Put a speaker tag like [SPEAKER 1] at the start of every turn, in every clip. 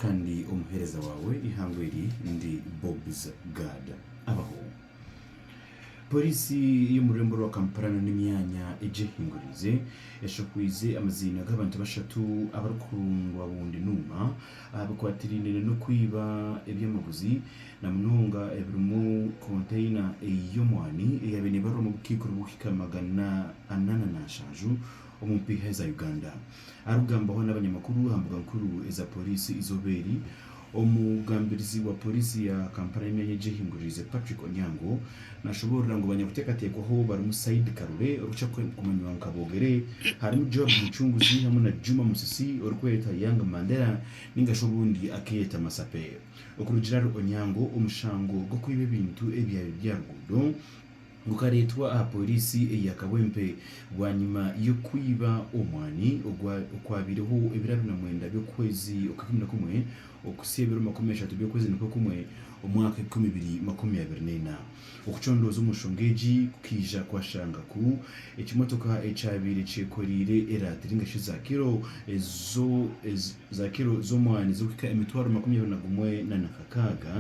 [SPEAKER 1] Kandi omuheereza waawe eihangwe eri ndi Bobs Gad. Abaho. Pooriisi y'omururembo rwa Kampala nana emyanya egyehinguriize eshahwiize amaziina g'abantu bashatu abarikukundwa bundi nuuma aha bikwatiraine nana okwiiba ebyamaguzi na munonga ebirimu konteyina y'omwaani eyaabaire neebarwa omu bukaikuru bw'okuhika magana ana nana nshanju Omupiha eza Uganda arikugambaho n'abanyamakuru aha mbuga nkuru eza Poliisi eizooba eri. Omugambirizi wa Poliisi ya Kampala y'emyanya egyehinguririize Patrick Onyango nashoboorora ngu abanyakuteekateekwaho barimu Said Karole orikukira kumanywa nka Bogere, harimu Joab Muchunguzi hamwe na Juma Musisi orikweeta Young Mandela nainga shi obundi akeeyeta Masape. Okurugiirira ahari Onyango, omushango gw'okwiba ebintu ebyabi by'aha ruguudo, Gukareetwa aha pooriisi eya Kawempe bwanyima y'okwiba omwani okwabaireho ebiro abiri na mwenda by'okwezi okw'ikumi na kumwe okuhitsya ebiro makumi ashatu by'okwezi nikwo kumwe omwaka ebikumi bibiri makumi abiri n'eina. Okucondooza omu nshonga egi kukaija kwashanga ku ekimotoka ekyabaire kyekoreire eraatiri nari shi za kiro z'omwani z'okuhika emitwaro makumi abiri na gumwe na nakakaaga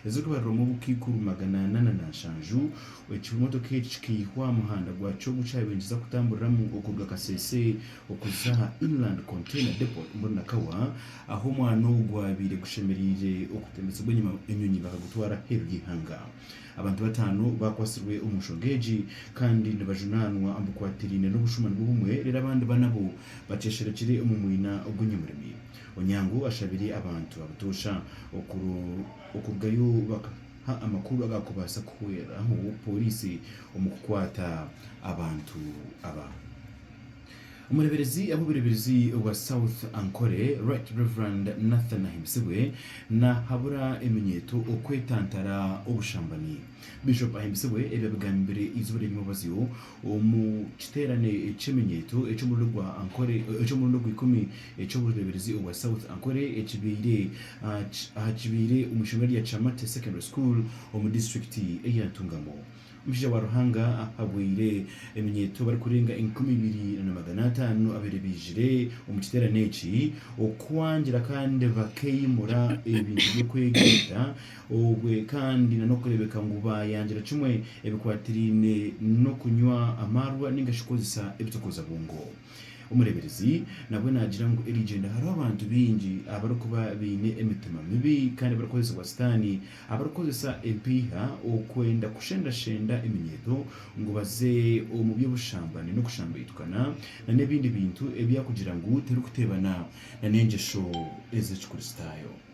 [SPEAKER 1] ezirikubariramu obukaikuru magana ana na na nshanju, ekimotoka eki kikaihwa aha muhanda gwakyo ogu kyabingiza kutamburiramu okuruga Kasese okuza aha Inland Container Depot omuri Nakawa, ahu omwana ogu gwabaire gushemereire okutembekyebwa enyima enyonyi bakagutwara aheeru y'eihanga. Abantu bataano bakwatsirwe omu nshonga egi kandi nibajunaanwa omu bikwatiraine n'obushuma nibwo bumwe reero abandi bana bo baceesherekire omu mwina gw'enyamurimi. Onyango ashabire abantu abutoosha okurugayo bakaha amakuru agakubaasa kuhweraho Pooriisi omu kukwata abantu aba. Omureeberezi w'obureeberezi bwa South Ankole, Right Rev. Nathan Ahimbisibwe nahabura eminyeeto okwetantara obushambani. Bishop Ahimbisibwe ebi abigambire eizooba ry'enyimabazyo Omu kiteerane ky'eminyeeto eky'omurundi gwa Ankole eky'omurundi ogw'ikumi eky'obureeberezi obwa South Ankole ekibaire aha kibaire omu ishomero rya Kyamate Secondary School omu disiturikiti eya Ntungamo, omushaija wa Ruhanga ahabwire eminyeeto barikurenga enkumi ibiri na magana ataano abaire baizire omu kiteerane eki okwangira kandi bakeimura ebintu by'okwegyereza obwe kandi na n'okureebeka ngu baayangira kimwe ebikwatiraine n'okunywa amaarwa nainga shi kukozesa ebitokozabwongo. Omureeberezi nabwe naagira ngu eri igyenda hariho abantu baingi abarikuba baine emitima mibi kandi barikukozesibwa Sitaane, abarikukozesa empeiha okwenda kushendashenda eminyeeto ngu baze omu by'obushambani n'okushambaitukana na n'ebindi bintu ebyaakugira ngu terikuteebana na n'engyesho ez'Ekikristaayo.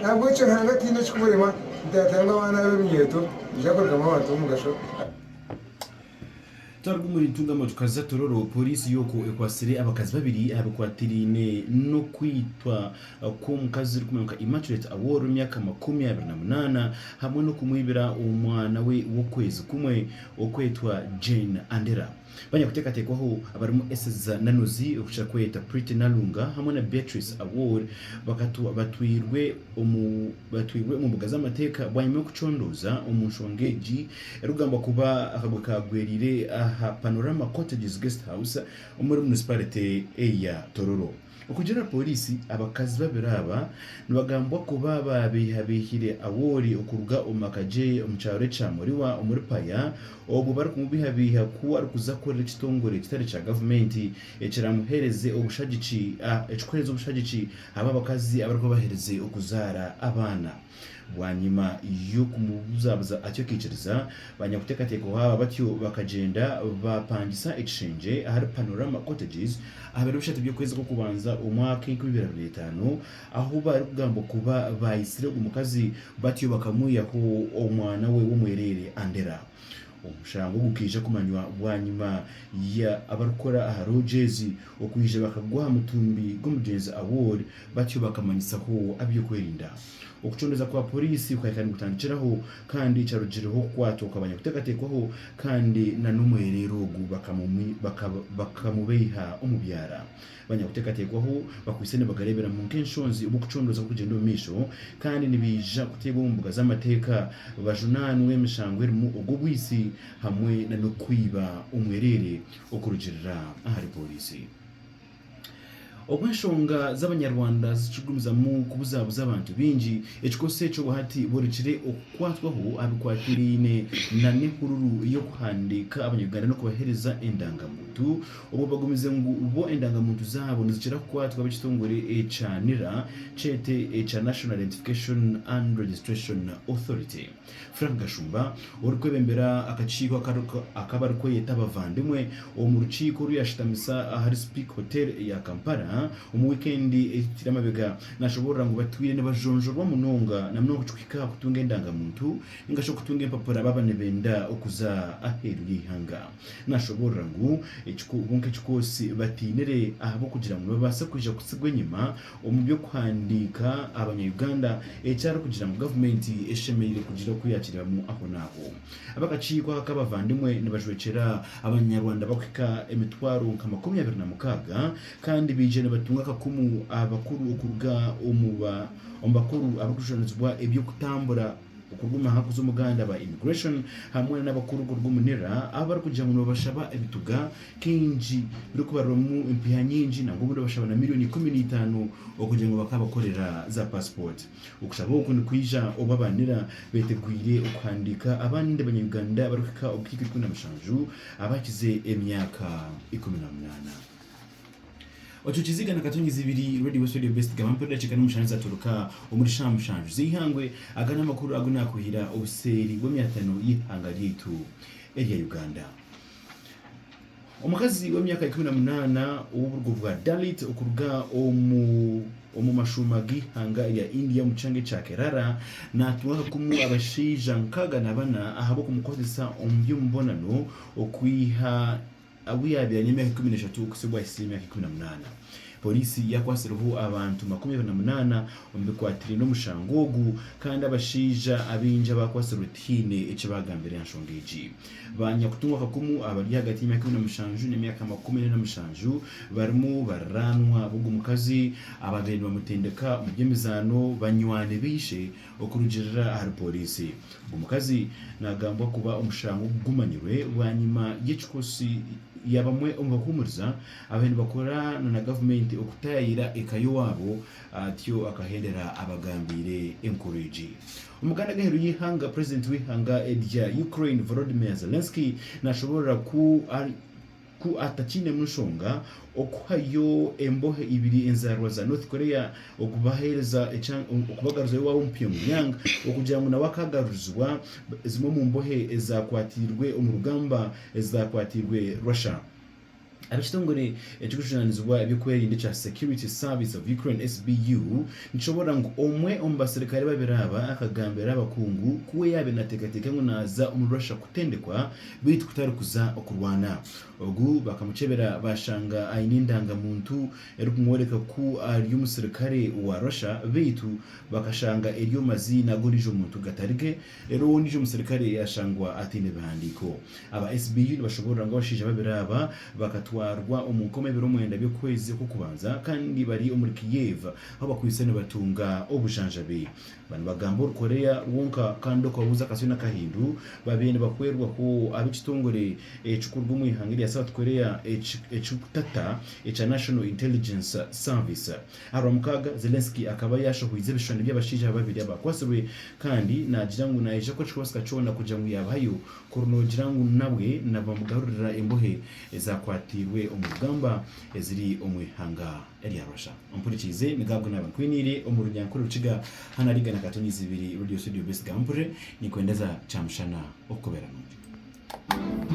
[SPEAKER 2] Nahabwekyo Ruhanga ataine ekikimurema nti yaagira ngu abaana be ebinyeeto
[SPEAKER 1] nibiija kurugamu abantu b'omugasho. Twaruga omuri Ntungamo tukaza Tororo, Pooriisi y'okwo ekwatsire abakazi babiri aha bikwatiraine n'okwitwa kw'omukazi orikumanywa nka Immaculate Awor w'emyaka makumi abiri na munaana hamwe n'okumwibira omwana we w'okwezi kumwe okwetwa Jane Anderah. Banyakuteekateekwaho abarimu Eseza Nanuzi, Ruhukira Kweta, Pretty Nalunga hamwe na Beatrice Awor batwairwe omu mbuga z'amateeka bwanyima y'okucondooza omu nshonga egi erikugambwa kuba akagwe kaagwereire aha Panorama Cottages Guest House omuri munisipaarite ya Tororo. Okugira pooriisi, abakazi babiri aba nibagambwa kuba baabeihabeihire Awori okuruga omu maka gye omu kyaro ekya Moriwa omuri Paya obwo barikumubeihabeiha ku arikuza kukorera ekitongore ekitari kya gavumenti ekiraamuheereze obushagiki ekirikuheereza obushagiki abo abakazi abarikuba baherize okuzaara abaana. Bwanyima y'okumubuzabuza atyo akaikiriza, ba nyakuteekateekaho aba batyo bakagyenda baapangisa ekishengye ahari Panorama Cottages aha biro bishatu by'okwezi kw'okubanza omwaka enkumi ibiri abiri na etaano, ahu barikugambwa kuba baayitsire ogwo mukazi batyo bakamwihaho omwana we w'omwereere Andera. Omushango gukaija kumanywa bwanyima ya abarikukora aha loogi ezi okwija bakagwa aha mutumbi gw'omugyenzi Awor batyo bakamanyitsaho aby'okwerinda. Okucondeza kwa poriisi kukahika nigutandikiraho kandi ekyarugiireho okukwatwa kwabanyakuteekateekwaho kandi na n'omwereere ogu bakamubeiha omu byara. Banyakuteekateekwaho bakwaitse nibagareeberamu nk'enshonzi obw'okucondooza kurikugyenda omu maisho kandi nibaija kuteebwa omu mbuga z'amateeka bajunaanwe emishango erimu ogw'obwitsi hamwe n'okwiba omwereere okurugirira ahari pooriisi. Obu enshonga z'Abanyarwanda zikigumizamu kubuzaabuza abantu baingi, ekikozesa ekyo hati borekire okukwatwaho aha bikwatiraine n'ehururu y'okuhandiika Abanyarwanda n'okubaheereza endangamuntu Obwo bagumize ngu bo endangamuntu zaabo nizikira kukwatwa ab'ekitongore ekya nira, kyete ekya National Identification and Registration Authority. Frank Gashumba orikwebembera akakiiko ak'abarikweyeta abavandimwe omu rukiiko oru yaashutamisa ahari Speke Hotel eya Kampala omu wiikendi ehikire amabega naashoboorora ngu batwire nibajonjorwa munonga na munonga ekikuhika aha kutunga endangamuntu ningashi okutunga empapura baaba nibenda okuza aheeru y'eihanga. Naashoboorora ngu, Kwonka ekikoosi batainire ahabw'okugira ngu nibabaasa kwija kutsigwa enyima omu by'okuhandiika Abanya-Uganda, eki arikugira ngu gavumenti eshemereire kugira oku yaakireebamu ahonaaho. Ab'akakiiko aka k'abavandimwe nibajwekyera Abanyarwanda bakuhika emitwaro nka makumi abiri na mukaaga kandi baija nibatunga akakumu aha bakuru okuruga omu bakuru abarikujunanizibwa eby'okutambura Okuguma aha kuza omuganda aba Immigration hamwe n'abakuru kuruga omu nira abu barikugira ngu nibabashaba ebituga kaingi birikubarwamu empiiha nyingi nangwa obumwe nibabashaba na milioni ikumi na itaano okugira ngu bakaabakorera za paasipooti. Okushaba oku nikwija obu aba nira beetegwire okuhandiika abandi banya-Uganda barikuhika obukaikuru ikumi na mushanju abaakize emyaka ikumi na munaana. Otwo tuziga na katongyezi ibiri Radio West Radio Best gaba mpero dakiika n'omushanju zaturuka omuri shaaha mushanju z'eihangwe. Aga n'amakuru agu nakuhira obuseeri bw'emyatano y'eihanga ryaitu erya Uganda. Omukazi w'emyaka ikumi na munaana ow'oburugo bwa Dalit okuruga omu omu mashuuma g'eihanga erya India omu kishanga ekya Kerala naatungwa akakumu abashaija nkaaga na bana ahabw'okumukozesa omu by'omubonano okwiha Abu yaabaire aine emyaka ikumi n'eshatu okutsibwa ahitsya emyaka ikumi na munaana. Poriisi yakwatsireho abantu makumi abiri na munaana omu bikwatiraine n'omushango ogu kandi abashaija abaingi abaakwatsirwe tihaine eki baagambire aha nshonga egi. Ba nyakutungwa kakumu abari ahagati y'emyaka ikumi na mushanju n'emyaka makumi ana na mushanju barimu bariraanwa b'ogwo mukazi abaabaire nibamutendeka omu by'emizaano, banywani ba ishe Okurugiirira ahari pooriisi, omukazi naagambwa kuba omushango ogu gumanyirwe bwanyima y'ekikosi ya bamwe omu bahuumuriza abaabaire nibakora na gavumenti okutaayaayira eka y'owaabo atyo akahendera abagambiire enkoro egi. Omuganda g'aheeru y'eihanga, Purezidenti w'eihanga erya Ukraine Volodymyr Zelensky naashoboorora ku ku atakiinemu nshonga okuhayo embohe ibiri enzaarwa za North Korea okubaheereza okubagaruzayo ewaabo omu Pyongyang okugira ngu nawe akaagarurizibwa zimwe omu mbohe ezaakwatiirwe omu rugamba ezaakwatiirwe Russia. Ab'ekitongore ekirikujunaanizibwa eby'okwerinda ekya Security Service of Ukraine, SBU, nikishoboorora ngu omwe omu baserukare babiri aba akagambira abakungu ku we yaabaire naateekateeka ngu naaza omuri Russia kutendekwa beitu kutari kuza okurwana. Ogu bakamukyebera bashanga aine endanga muntu erikumworeka ku ari omusirikare wa Russia beitu bakashanga eri omu maziina g'ondijo muntu gatari ge, rero we ondijo omusirikare yashangwa ataine bihandiko. Aba SBU nibashoborora ngu abashaija babiri aba bakatwarwa omu nkoma ebiro mwenda by'okwezi okw'okubanza kandi bari omuri Kiev ahu bakwaitse nibatunga obujanjabi. Ba nibagamba ori Korea wonka kandi okabuuza akasyo n'akahindu, babaire nibahwerwa ku ab'ekitongore ekirikuruga omu ihanga erya South Korea ekirikutata ekya National Intelligence Service. Aha Rwamukaaga, Zelensky akaba yaashahoize ebishushani by'abashaija babiri abakwatsirwe kandi naagira ngu naija kukora ekikubaasika kyona kugira ngu yaabahayo kuri noogira ngu nabwe nabamugarurira embohe ezaakwatiirwe omu rugamba eziri omu ihanga eryabasha. Ompurikiize, niga agu naabe nkwiniire omu Runyankore, Rukiga, Hana Riga na Katonyi Izibiri Radio Studio Best Gampurire, Ninkwendeza Kyamushana okukubeera nungi.